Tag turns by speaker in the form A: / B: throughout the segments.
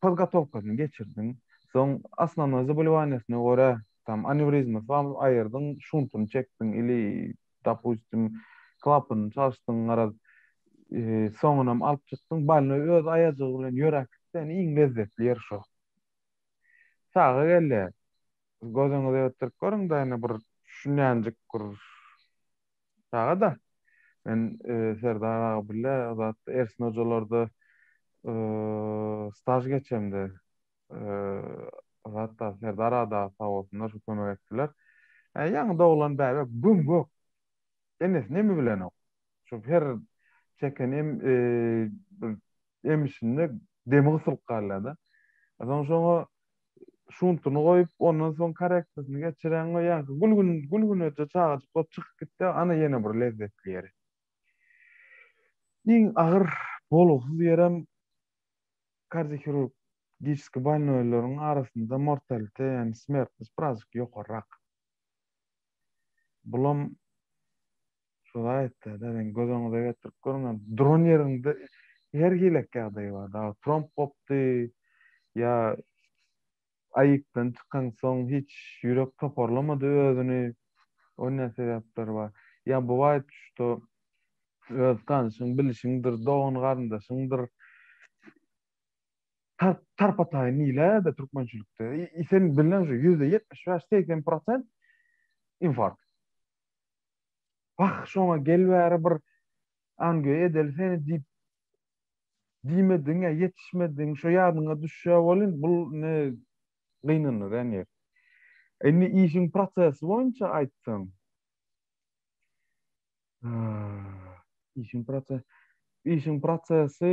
A: podgotowkasyny geçirdiň, soň osnownoý zaboliwaniýasyna görä, tam anewrizma saldyň, aýyrdyň, şuntuny çekdiň ili, dopustim, klapanyny çalyşdyň, garaz, soňunam alyp çykdyň, bolnoý öz aýajygy bilen ýöräp gitseň, iň lezzetli ýeri şo. Saga gel-le, gözüňizi öwütdirip görüň-dä, ine, bir şunýanjyk bir Saga da. Men Serdar aga bile zat Ersin hojalarda staj geçemde zat da Serdar aga sag bolsunlar şu kömek etdiler. Ýaňy doglan bäbe güm gök. Enesini emi bilenok. Şu her çeken em emişinde demi gysylyp galýar da. Soň şoňa şuntuny goýup, ondan soň korektasyny geçireň we ýaňky gülgün gülgüneje çagajyk bolup çykyp gitse, ana ýene bir lezzetli ýeri. Iň agyr, bolgusyz ýerem kardiohirurgiçiskiý bolnoýlaryň arasynda mortalite, ýagny smertnost birazjyk ýokarrak. Bulam. Şo zaýatda-da sen göz öňüňize getirip görüň hem, duran ýeriňde her hilek ýagdaý bar, dagy tromb gopdy, ýa aýykdan çykaňsoň hiç ýürek toparlamady özüni, o ne sebäpler bar, ýa boaýt şuda öz tanyşyň, bilişiňdir, dogan-garyndaşyňdyr, tarp tarpa-taýyn diýilä-de türkmençilikde, i sen bilneň şu ýüzde ýetmiş bäş, segsen prosent infarkt. Wah, şoňa gel bäri bir ange edeli seni diýip diýmediň-ä, ýetişmediň, şo ýadyňa düşýä welin, bul indi gynanar ene. Indi işiň prosesi boýunça aýtsaň, işiň prosesi, işiň prosesi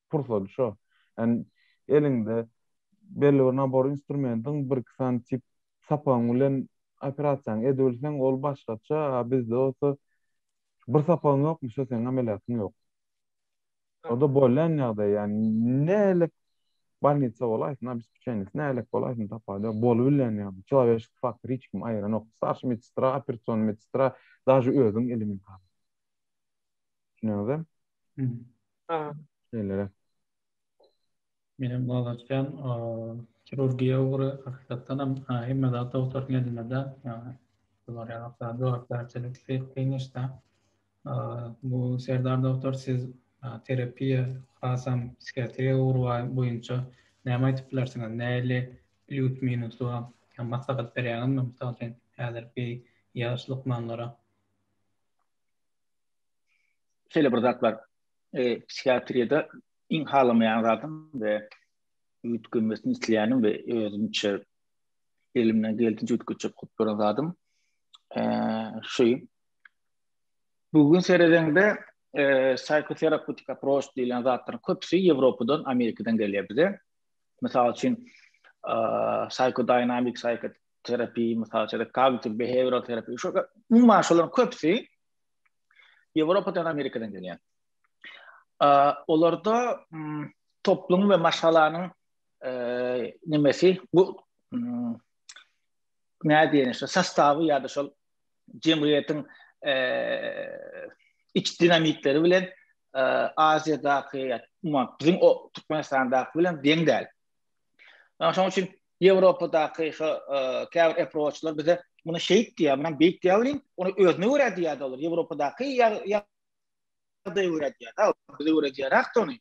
A: pursady şo. Ýani eliňde belli bir nabor instrumentiň, bir-iki sany tip sapagyň bilen operasiýaňy edibilseň, ol başgaça, a bizde bolsa bir sapagyň ýokmy, şo seniň ameliýatyň ýok. O-da bolýan ýagdaý, ýani nälik bolnitsa bolaýsyn, obespeçenisi nälik bolaýsyn, tapawudy ýok, bolubilýän ýagdaý. Çylaberişlik faktory hiç kimi aýyranok. Starşy medsestra, operasion medsestra, daže özüň elimiň haly. Düşünýäňizem? Haa. Şeýleräk.
B: Menem galaçýan, kirurgiýa ugry hakykatdanam hemme zat dogtaryň elinde däl. Bular ýaly zat jogapkärçilik kyn iş däl. Bu Serdar dogtor siz terapiýa hasam psihiatriýa ugry boýunça näme aýdyp bilersiňiz? Nähili plýus minusy bar? Ýa maslahat berýäňizmi mysal üçin häzirki ýaş lukmanlara?
C: şeýle bir zat bar. E, psihiatriýada iň halamaýan zadym we üýtgemesini isleýänim we özümçe elimden geldiňçe üýtgetjek hut bir zadym. E, şu bugün seredende e, psihoterapetik approach diýlen zatlar köpüsi Ýewropadan, Amerikadan gelýär bize. Mysal üçin, e, psihodinamik psihoterapiýa, mysal üçin, kognitiv behavioral terapiýa, şu umuman şolaryň köpüsi Ýewropadan, Amerikadan gelýän. Olarda toplum we maşgalanyň nemesi bu nädýän şu sostawy ýa-da şol jemgyýetiň iç dinamikleri bilen Aziýadaky ýa-da biziň o Türkmenistandaky bilen deň däl. Şonuň üçin Ýewropadaky käbir eproçlar bize muny şeýt diýýär, muny beýik diýýär welin, ony özüne görä diýýär-de olar. Ýewropadaky ýagdaýa görä diýýär-de, bize görä diýärak-de ony.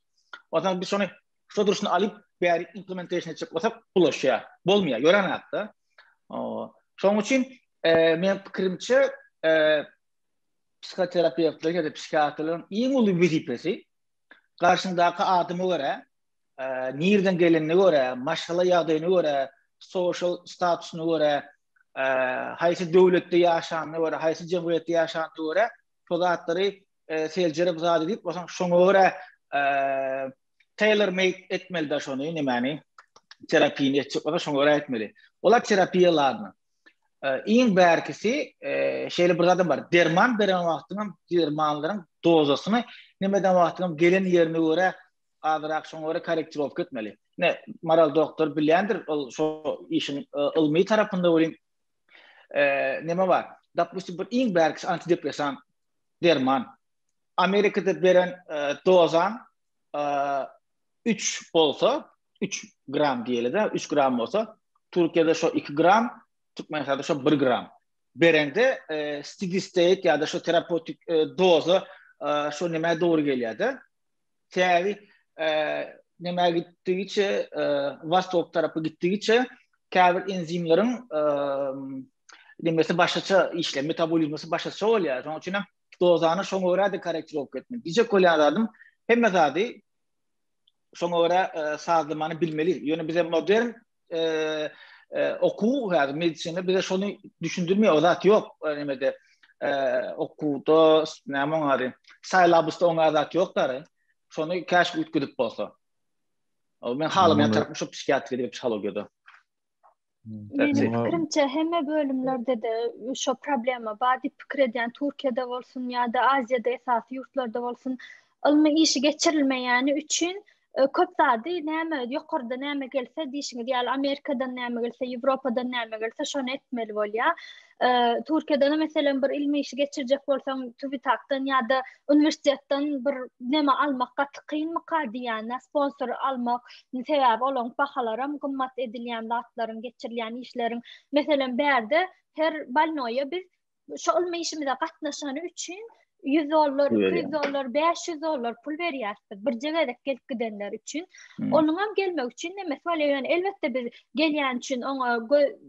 C: Onsoň biz şony şu durşuna alyp, bäri implementation etjek bolsak, bulaşýar. Bolmaýar, ýören zat-da. Şonuň üçin meniň pikirimçe, psihoterapewtleriň ýa-da psihiatrlaryň iň uly wezipesi garşyňdaky adama görä, nirden gelenine görä, maşgala ýagdaýyna görä, sosial statusyna görä, haýsy döwletde ýaşanyna görä, haýsy jemgyýetde ýaşanyna görä, şo zatlary seljerip zat edip, bolsa şoňa görä tailor made etmeli de şony, nämäni? Terapini etjek bolsa şoňa görä etmeli. Olar terapiýa ladna. Iň bärkisi şeýle bir zat bar. Derman beren wagtyňam dermanlaryň dozasyny, näme eden wagtyňam gelen ýerine görä azyrak şoňa görä korrektirowka etmeli. Ne, Maral doktor bilýändir, ol şo işiň e, ylmy tarapynda welin e, näme bar? Dopustim, bir iň bärkisi antidepressan derman. Amerikada beren e, dozan 3 bolsa, 3 gram diýeli-de, 3 gram bolsa, Türkiýede şo 2 gram, Türkmenistanda şo 1 gram. Berende steady state ýa-da şo terapewtik doza şo nämä dogry gelýär-de? Täri nämä gitdigiçe, wostok tarapa gitdigiçe käbir enzimleriň demesi başgaça işleýär, metabolizmasy başgaça bolýar. Şonuň üçin hem dozany şoňa görä-de korrektirowka etmeli. Diýjek bolýan zadym, hemme zady şoňa görä sazlamany bilmeli. Ýöne bize modern okuw hadi medisina bize şonu düşündirmiyor o zat yok yani de okuwda näme oňary saýlabysda oňa zat yok dary şonu käş ütküdip bolsa o men halam ýa tarapy şu psihiatri diýip psihologiýada
D: Benim fikrimçe hemme bölümlerde de şu problema bar diýip pikir edýän Türkiýede bolsun ýa-da Aziýada esasy ýurtlarda bolsun ylmy işi geçirilmeýäni üçin E, köp zady näme ýokarda näme gelse diýşiňiz ýaly Amerikadan näme gelse, Ýewropadan näme gelse şony etmeli bolýar. E, Türkiýeden meselem bir ilmi işi geçirjek bolsaň, TÜBİTAK-dan ýa-da uniwersitetden bir näme almak gaty kynmyka diýýän, sponsor almak, sebäbi olaň bahalary hem gymmat edilýän zatlaryň geçirilýän işleriň. Meselem, bärde her balnoýa biz şu ylmy işimize gatnaşany üçin 100 dollar, 200 dollar, 500 dollar pul berýärsiz. Birje gezek gelip gidenler üçin. Hmm. Onuň hem gelmek üçin näme etmeli? Ýöne elbetde biz gelýän üçin oňa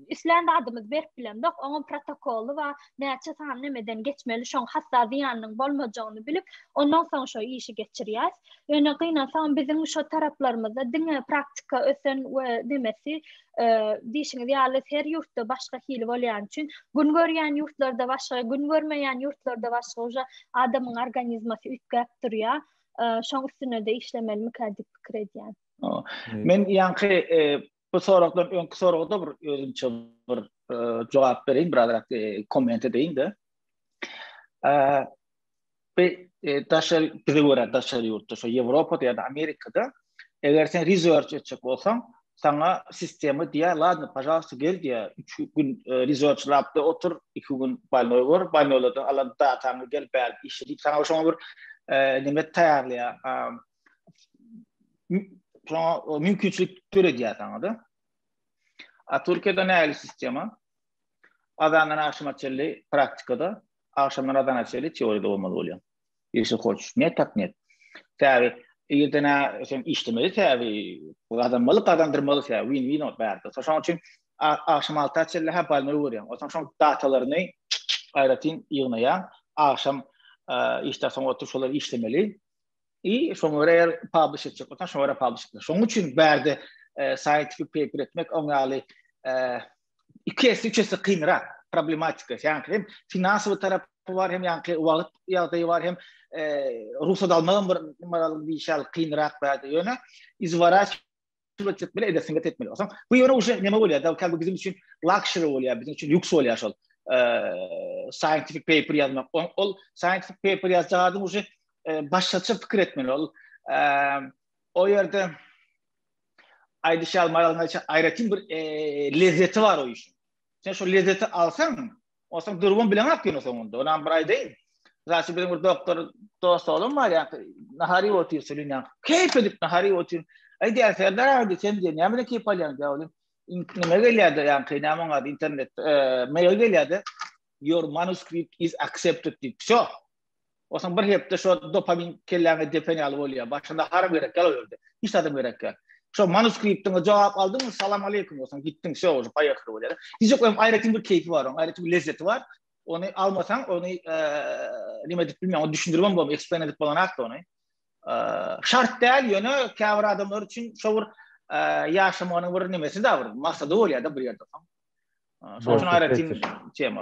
D: islän adymyz berip bilemok. Oňa protokoly we näçe sany nämeden geçmeli, şoň hatda zyýanynyň bolmajagyny bilip, ondan soň şo işi geçirýär. Ýöne gynansaň biziň şo taraplarymyzda diňe praktika ösen we demesi diýişiňiz ýaly her ýurtda başga hili bolýan üçin gün görýän ýurtlarda başga gün görmeýän ýurtlarda başga uja adamyň organizmasy üýtgäp durýar şoň üstüne de işlemeli mikä diýip pikir edýän men
C: ýaňky e, bu soragdan öňki soragda bir özümçe bir e, jogap bereýin biraz e, komment edeýin de we daşary bize görä daşary ýurtda şo Ýewropada ýa-da Amerikada eger sen research etjek bolsaň, saňa sistema diýýär, ladno, pažalsta gel diýýär, üç gün research labda otur, iki gün bolnoý bor, bolnoýlardan alan dataňy gel bäri işle diýip saňa şoňa bir neme taýýarlaýar, şoňa mümkinçilik döredýär saňa-da. A Türkiýede nähili sistema? Azandan agşama çenli praktikada agşamdan azana çeli teoriýada bolmaly bolýar. Ýeşil hoç, ne tak net. Täbi, ýerden sen işlemeli täbi, gazanmaly, gazandyrmaly täbi, win win ol bärde. Şoň üçin agşam alta çeli ha balma görýän. Otaň şoň datalaryny aýratyn ýygnaýan, agşam işde soň oturyp şolar işlemeli. I şoň görä eger publish etjek bolsa, şoň görä publish etmeli. Şoň üçin bärde scientific paper etmek oňaly iki esse, üç esse kynrak problematika. Ýaňky hem finansowy tarapy bar, hem ýaňky wagt ýagdaýy bar, hem e, rugsat almagam bir maral bir şal kynrak bar. Ýöne izwaraç etmek bilen edesin get etmeli. Osaň bu ýöne uşa neme bolýar? Da bu biziň üçin luxury bolýar, biziň üçin lüks bolýar şol. E, scientific paper ýazmak. Ol scientific paper ýazjak adam uşa e, başgaça pikir etmeli. Ol e, o ýerde aýdyş ýaly Maralna aýratyn bir e, lezzeti bar o işin. Sen şu lezzeti alsaň, olsaň durgun bilen ak ýöne soňunda. Onam bir aýdaýyn. Zaşy bilen bir doktor dost olam bar ýa, nahari otyr sülin ýa. Keýp edip nahari otyr. Aýdyň Serdar aýdy sen diýen, näme bilen keýp alýaň diýä olim. Nime gelýärdi ýa, keýne aman aýdy internet, e, mail gelýärdi. Your manuscript is accepted diýip. Şo. Osan bir hepde şo dopamin kelläňe depen ýaly bolýar. Başynda haram gerek ýaly bolýar. Hiç adam gerek ýaly. Şo manuskriptiňe jogap aldyň, salam aleýkum, osan gitdiň, şo bolýar, paýahar bolýar. Hiç ýok, hem aýratyn bir keýpi bar, oň aýratyn bir lezzeti bar. Ony almasaň, ony näme edip bilmeýän, ony düşündirip hem bolmaýar, eksplaýn edip bolanat da ony. Şart däl, ýöne käbir adamlar üçin şo bir ýaşamagyň bir nämesi-de bir maksady bolýar-da bir ýerde. Şonuň üçin aýratyn tema.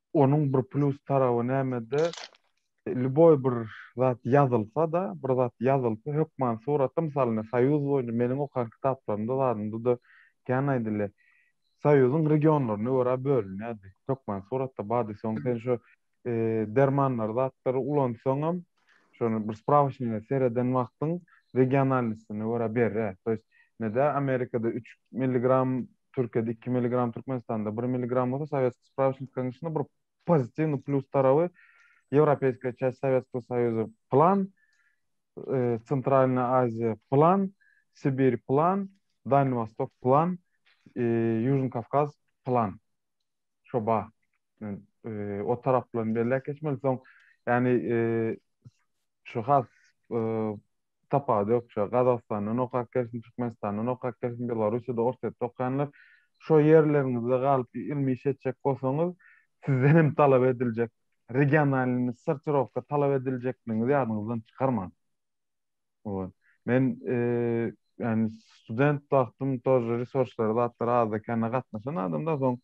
A: onuň bir plus tarawy nämede, lýuboý bir zat ýazylsa-da, bir zat ýazylsa, hökman suratda, mysal, ine, Soýuz boýunça meniň okan kitaplarymda, zadymda-da kän aýdylýar. Soýuzyň regionlaryna görä bölünýärdi. Hökman suratda bardy. Soň sen şu, eee, dermanlary, zatlary ulansaňam, şony bir sprawçnige sereden wagtyň regionalnostine görä berre. To ýest, nede Amerikada üç milligram Türkiýede iki milligram Türkmenistanda bir milligram bolsa sowetskiý sprawçnikaň içinde bir pozitiwnyý plýus tarawy ýewropeýskiýa çäş sowetskiý soýuzy plan Centralnyý Aziýa plan Sibir plan Dalny Wostok plan Ýužny Kawkaz plan. çoba men o taraplardan belläp geçmeli soň yani şu has tapawudy ýok şu Gazagystandan okap gelsin Türkmenistandan okap gelsin Belarusýada Orsýetde okaýanlar şo ýerleriňizde galyp ylmy iş etjek bolsaňyz sizden hem talap ediljek regionalny sortirowka talap ediljekligiňizi ýadyňyzdan çykarmaň. Owal. Men ýani student wagtym tor resurslara zatlara azda-kände gatnaşan adamda soň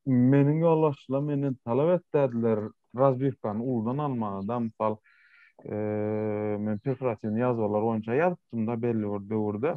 A: meniň ýoldaşlar menden talap etdiler razwirkany uludan almagy da mysal men peokratiwny ýazgylar boýunça ýazypdym da belli bir döwürde.